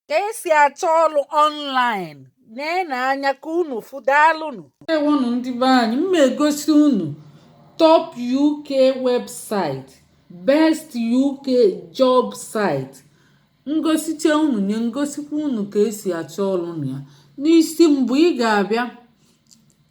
ka esi achọ ọrụ online na-ene anya ka unu fụ daalụnụ ewonụ ndị be anyị m egosi unu top uk website best uk job site ngosicha unu nye ngosikwa unu ka esi achọ ọrụ na ya n'isi mbụ ị ga-abịa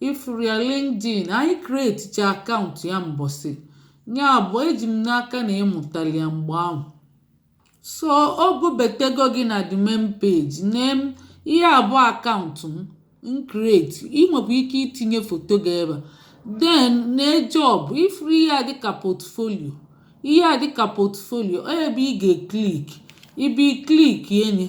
ị fụrụ ya LinkedIn anyị kreticha akaụntụ ya mbọsị ya bụ eji m n'aka na ị mụtalị ya mgbe ahụ so o bubetego gị na the main page name ihe a bụ akaụntụ m m kreti ị nwekwa ike itinye foto gị ebe a then nee job ị fụrụ ihe a dịka portfolio ihe a dịka portfolio ọ ebe ị ga-eklik ị bịa klik enye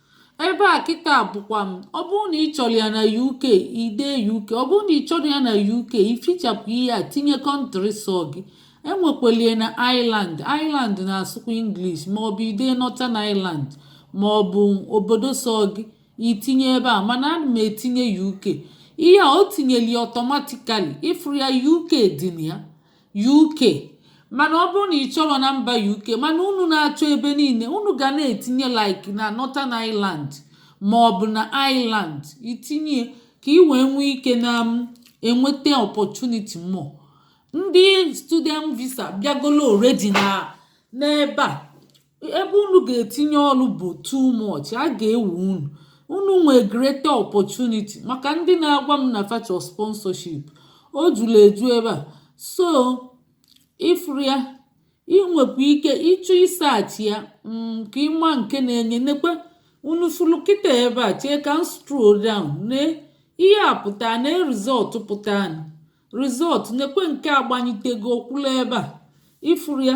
ebe a kịta bụkwa m ọ bụrụ na ị chọrọ ya na uk i dee uk ọ bụrụ na ị chọrọ ya na uk i fichapụ ihe a tinye kọntrị sọ gị enwekwalie na ireland ireland na-asụkwa english maọbụ i dee northern ireland maọbụ obodo sọ gị i tinye ebe a mana ana m etinye uk ihe a o tinyeli ọtọmatikali ị fụrụ ya uk dị na ya UK mana ọ bụrụ na ị chọrọ na mba UK mana unu na-achọ ebe niile unu ga na-etinye like na Northern Ireland ma ọ bụ na Ireland i tinye ka ị wee nwee ike na um, enweta opportunity more ndị student visa bịagolo already na n'ebe a ebe unu ga-etinye ọrụ bụ too much a ga-ewe unu unu nwee greater opportunity maka ndị na-agwa m na fa chọ sponsorship o juru eju ebe a so ị fụrụ ya ị nwekwa ike ịchọ ịsaachị ya mm, ka ị ma nke na-enye nekwe unu fụrụ kịta ebe a chee ka m scroll down na ihe a pụta na rizọtụ pụta rizọtụ nekwe nke a gbanyitego okpuru ebe a ị fụrụ ya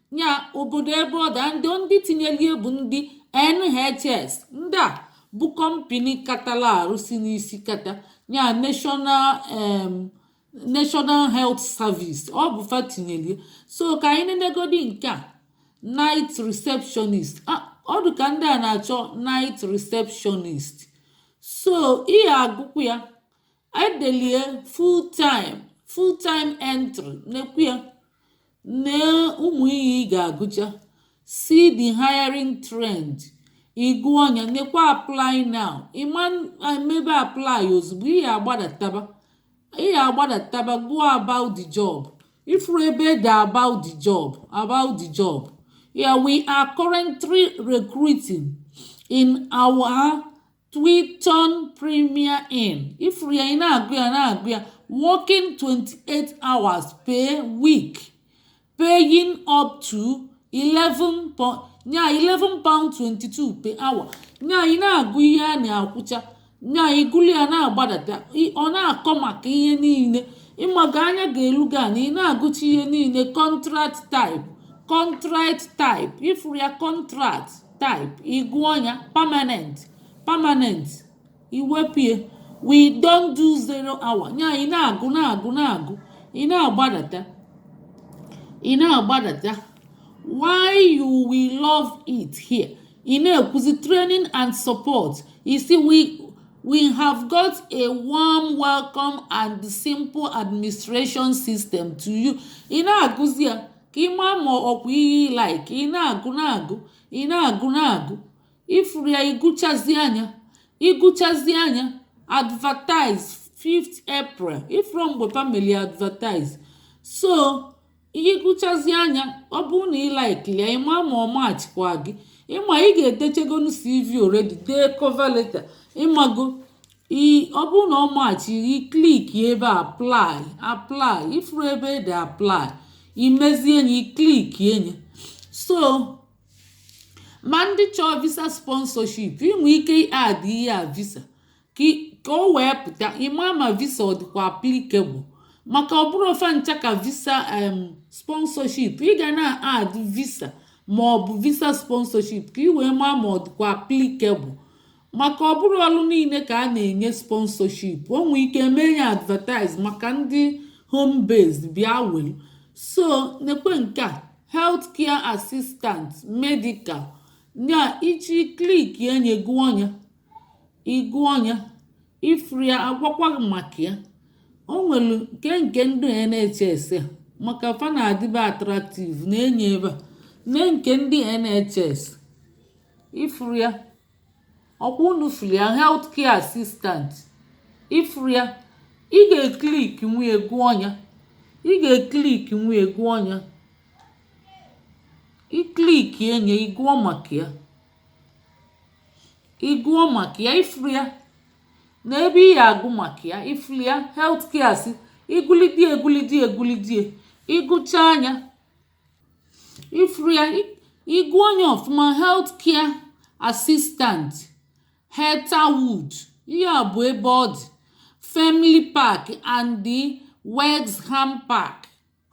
ya obodo ebe ọ da ndị ndị tinyelie bụ ndị NHS ndị a bụ kọmpini katala ọrụ si n'isi kata ya National um, National Health Service ọ bụ fa tinyelie so ka anyị nenegodi nke a night receptionist ọ dị ka ndị a na-achọ night receptionist so ị ya-agụkwu ya edelie full time full time entry nekwu ya na ụmụ ihe ị ga-agụcha see the hiring trend ị gụọ nya nekwa apply now ị ma-emebe apply ozugbo ị ga-agbadataba ị ga-agbadataba gụọ about the job ị fụrụ ebe e de about the job about the job yeah we are currently recruiting in our Twiton Premier Inn ifuru ya ị na-agụ ya na-agụ ya working 28 hours per week paying up to 11 pound nya 11 pound 22 per hour nya ị na-agụ ihe a na-akwụcha nya igulu ya na-agbadata ọ na-akọ maka ihe niile ịmaga anya ga-elu gị na ị na-agụcha ihe niile contract type contract type ifuru ya contract type ịgụọ nya permanent permanent iwepie we don't do zero hour nya ị na-agụ na-agụ na-agụ ị na-agbadata ị na-agbadata why you will love it here ị na-ekwuzi training and support isi we we have got a warm welcome and simple administration system to you ị na-agụzi ya ka ị maa ma ọkwa ihe ị like ị na-agụ na-agụ ị na-agụ na-agụ ifuru ya ịgụchazia nya ịgụchazia nya advertise 5th April ifuru mgbe fa melu advertise so ịgụchazia nya ọ bụrụ na ị like ya ị maa ma ọ matchikwa gị ịma ị ga-edechagonu CV already dee cover letter ịmago ị ọ bụrụ na ọ matchi ị klik ebe a apply apply ifuru ebe ede apply imezie nya ị klikie nya so ma ndị chọọ visa sponsorship inwe ike add ihe a visa ka ka o wee pụta ịma ma visa ọ dịkwa applicable maka ọ bụrọ fa ncha ka visa em sponsorship ị ga na add visa ma ọ bụ visa sponsorship ka ị wee maa ma ọ dịkwa applicable maka ọ bụrọ ọrụ niile ka a na-enye sponsorship o nwee ike mee nya advertise maka ndị home based bịa welu so nekwe nke a health care assistant medical nya ịchọọ ị klikie nya gụọ nya ịgụọ nya ifuru ya agwakwa gị maka ya o nwere nke nke ndị NHS a maka fa na-adịbe attractive nee nya ebe a nee nke ndị NHS ifuru ya ọkwa unu fụrụ ya health care assistant ịfụrụ ya ị ga-eklik wee gụọ nya ị ga-eklik wee gụọ nya iklikie nya ị gụọ maka ya ị gụọ maka ya ịfụrụ ya na ebe ị ya-agụ maka ya ịfụrụ ya health care assistant igulidie egulidie egulidie ịgụchaa nya ifuru ya ịgụọ nya ọfụma health care assistant Heatherwood ihe a bụ ebe ọ dị Frimley Park and the Wexham Park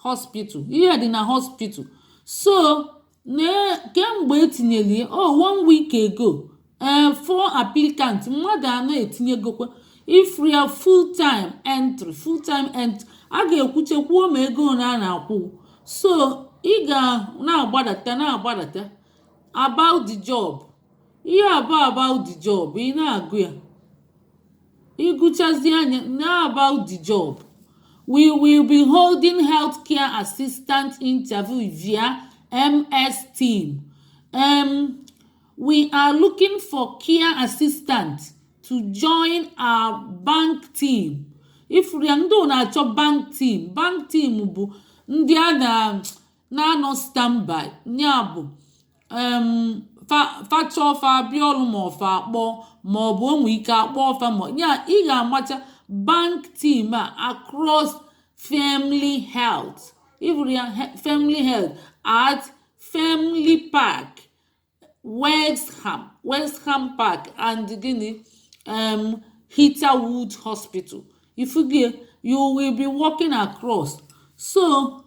Hospital ihe a dị na hospital so nekwa mgbe etinyere ya oh one week ago ee eh, four applicants mmadụ anọ etinyegokwa ifuru ya full time entry full time entry a ga-ekwucha kwuo ma ego ole a na-akwụ so ị ga na-agbadata na-agbadata about the job ihe a bụ about the job ị na-agụ ya ịgụchazia ya na about the job we will be holding healthcare assistant interview via MS Team um, We are looking for care assistant to join our bank team. Ifuru ya ndị ọ na-achọ bank team. Bank team bụ ndị a na-anọ standby ya bụ um, fa chọọ fa abịa ọrụ ma ọ fa akpọ ma ọ bụ o nwee ike akpọọ fa ma ya ị ga-amacha bank team a across family health. Ifuru ya family health at family park. Wexham Wexham Park and gịnị um Heatherwood Hospital ifugie you will be working across so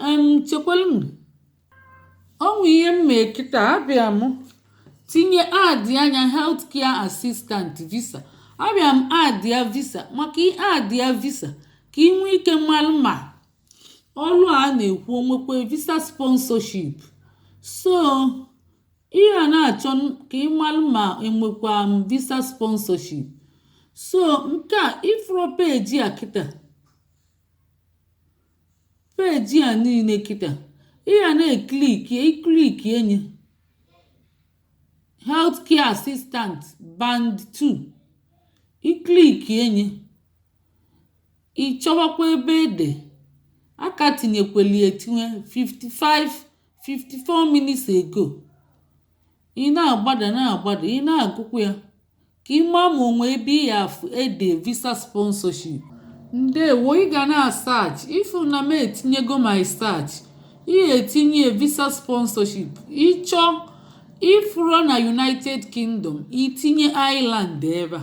um chekwalụ m o nwe ihe m mee kịta abịa m tinye adịa ya health care assistant visa abịa m adịa visa maka ị adịa visa ka ị nwee ike malụ ma ọrụ a na-ekwu o nwekwu visa sponsorship so ị ga na-achọ n- ka ị malụ ma e nwekwa visa sponsorship so nke a ifuru peji a kịta peji a niile kịta ị ga na-ekliki ị klikie ya healthcare assistant band 2 ị klikie ya Ị chọwakwa ebe e de a ka tinyekweli etinye 55 54 minutes ago ị na-agbada na-agbada ị na-agụkwa ya ka ị maa ma o nwe ebe ị ya afụ e de visa sponsorship ndewo ị ga na-asach ifu na m etinyego my search ị etinye visa sponsorship ịchọ ịfụrụ na united kingdom itinye ireland ebe a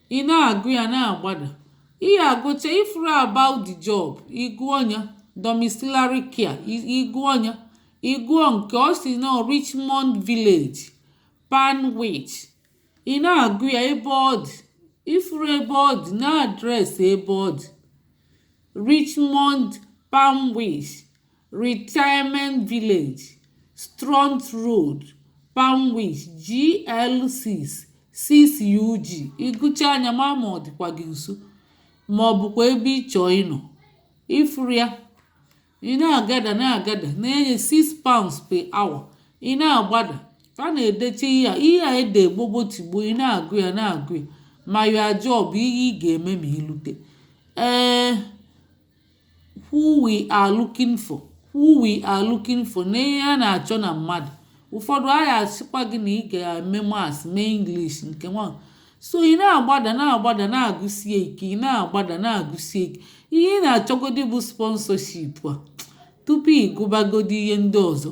ị na-agụ ya na-agbada ị ya-agụcha ifuru about the job ịgụọ ya domiciliary care ịgụọ ya ịgụọ nke ọ si na richmond village panwich ị na-agụ ya ebe ọ dị ifuru ebe ọ dị na address ebe ọ dị richmond panwich Retirement Village, Stroud Road, Painswick, GL6, 6UG. Ị gụchaa anya mara ma ọ dịkwa gị nso ma ọ bụkwa ebe ị chọọ ịnọ. Ị fụrụ ya, ị na-agada na-agada na-enye 6 pounds per hour. Ị na-agbada, a na-edecha ihe a ihe a ede gbogbo tigbo ị na-agụ ya na-agụ ya ma your job ihe ị ga-eme ma ị lute. Ee who we are looking for who we are looking for na ihe a na-achọ na mmadụ ụfọdụ a ga-asịkwa gị na ị ga-eme maths mee English nke nwa so ị na-agbada na-agbada na-agụsie ike ị na-agbada na-agụsie ike ihe ị na-achọgodi bụ sponsorship a tupu ị gụbagodi ihe ndị ọzọ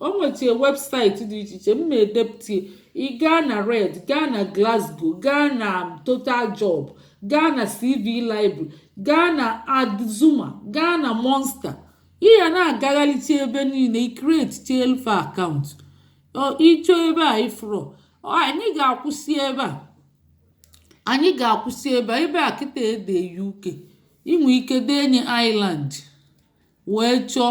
o nwechie website dị iche iche m na-edepụta ị gaa na reed gaa na glassdoor gaa na total job gaa na cv library gaa na adzuna gaa na monster ị ya na-agagharịcha ebe niile ị createchielụ fa account ị chọọ ebe a ị fụrụ anyị ga-akwụsị ebe a anyị ga-akwụsị ebe a ebe a kịta e dee uk i nwee ike denye ireland wee chọọ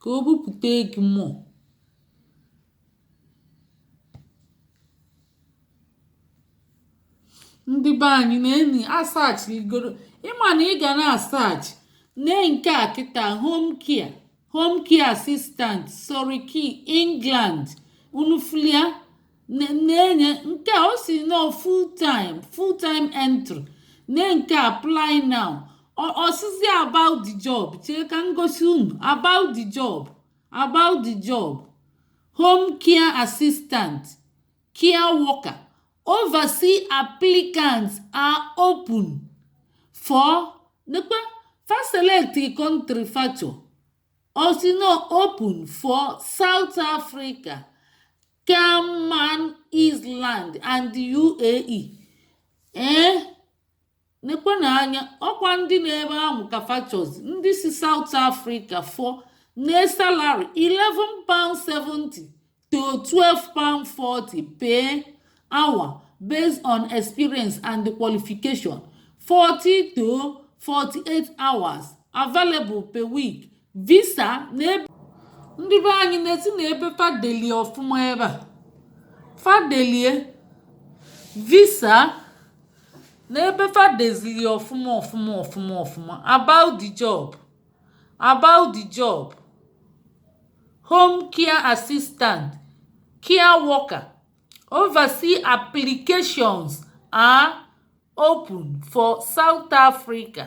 ka o bupute gị more ndị be anyị na anyị asearchigoro ị ma na ị ga na-asearch nee nke a kịta home care home care assistant surrey england unu fụlụ ya na-enye nke o si nọ full time full time entry na nke apply now ọsịsị about the job chee ka ngosi unu about the job about the job home care assistant care worker oversee applicants are open for nekpe fa select country factor ọsị nọ open for south africa Cayman Island and the UAE ee nekwenụ anya ọkwa ndị nọ ebe ahụ ka fa chọ ndị si South Africa fụnụ salary 11 pound 70 to 12 pound 40 per hour based on experience and qualification 40 to 48 hours available per week visa ndị be anyị nesienụ ebe fa delie ọfụma ebe fa delie visa nee ebe fa dezili ọfụma ọfụma ọfụma ọfụma about the job about the job home care assistant care worker overseas applications are open for south africa